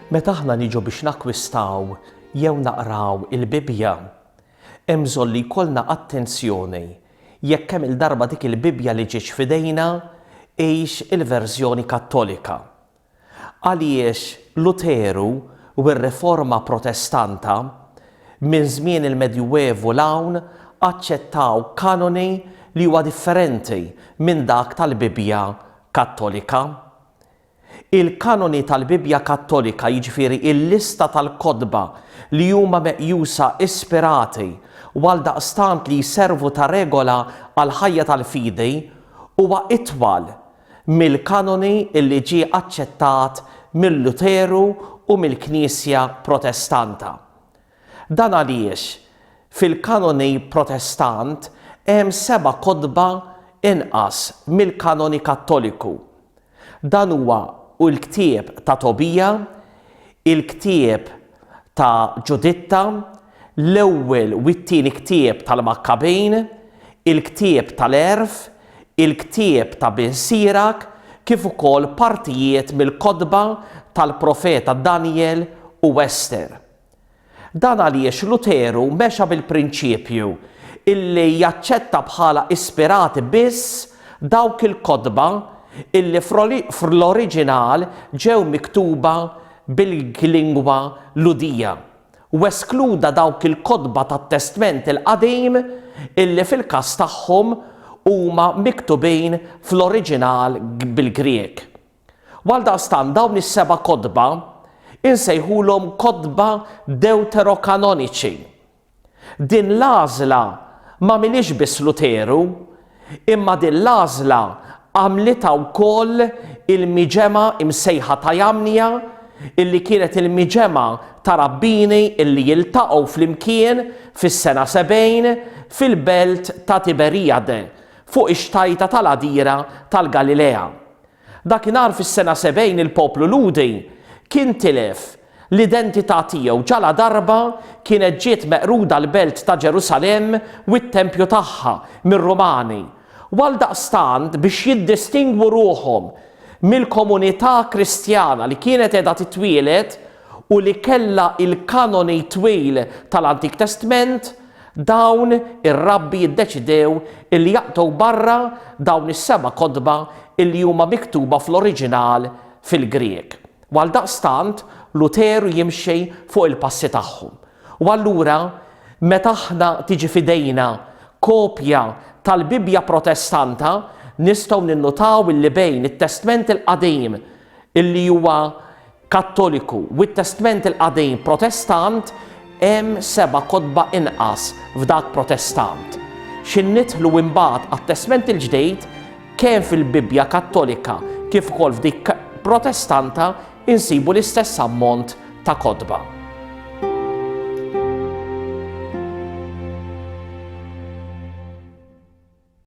Meta aħna niġu biex nakkwistaw jew naqraw il-Bibbja, hemm bżonn li jkollna attenzjoni jekk kemm il-darba dik il-Bibbja li ġietx f'idejna hix il-verżjoni Kattolika. Għaliex Luteru u r-Riforma Protestanta, minn żmien il-Medjuevu 'l hawn, aċċettaw kanoni li huwa differenti minn dak tal-Bibbja Kattolika? Il-kanoni tal-Bibbja Kattolika, jiġifieri l-lista tal-kotba li huma meqjusa ispirati u għaldaqstant li jservu ta' regola għall-ħajja tal-fidi, huwa itwal mill-kanoni li ġie aċċettat minn Luteru u mill-Knisja Protestanta. Dan għaliex fil-kanoni Protestant hemm seba' kotba inqas mill-kanoni Kattoliku. Dan huwa l-ktieb ta' Tobija, il-ktieb ta' Ġuditta, l-ewwel u t-tieni ktieb tal-Makkabin, il-ktieb tal-Għerf, il-ktieb ta' Bin Sirak kif ukoll partijiet mill-kotba tal-profeta Danjel u Ester. Dan għaliex Luteru mexa bil-prinċipju illi jaċċetta bħala ispirati biss dawk il-kotba illi fl-oriġinal ġew miktuba bil-lingwa Lhudija. u eskluda dawk il-kotba tat-Testment il-Qadim illi fil-każ tagħhom huma miktubin fl-oriġinal bil-Grieg. Għaldaqstant dawn is-seba' kotba insejħulhom kotba Dewterokanoniċi. Din l-għażla m'għamilhiex biss Luteru Imma din l-għażla għamlitha wkoll il-miġemgħa msejħa ta' Jamnia, illi kienet il-miġemgħa ta' rabbini illi jiltaqgħu flimkien fis-sena sebgħin fil-belt ta' Tiberijade, fuq ix-xtajta tal-għadira tal-Galilea. Dakinhar fis-sena 70 il-poplu Lhudi kien tilef l-identità tiegħu ġaladarba kienet ġiet meqruda l-belt ta' Ġerusalemm u t-tempju tagħha mir-Rumani, u għaldaqstant biex jiddistingwu ruħhom mill-komunità Kristjana li kienet qiegħda titwieled u li kellha l-kanoni twil tal-Antik Testment, Dawn ir-rabbi ddeċidew illi jaqtgħu barra dawn is-seba' kotba illi huma miktuba fl-oriġinal fil-Grieg. U għaldaqstant Luteru jimxi fuq il-passi tagħhom. U allura meta aħna tiġi f'idejna kopja tal-Bibbja Protestanta, nistgħu ninnutaw illi bejn it-Testment il-Qadim illi huwa Kattoliku, u t-Testment il-Qadim Protestant, hemm seba' kotba inqas f'dak Protestant. Xi nidħlu imbagħad għat-Testment il-Ġdid, kemm fil-Bibbja Kattolika kif ukoll f'dik Protestanta insibu l-istess ammont ta' kotba.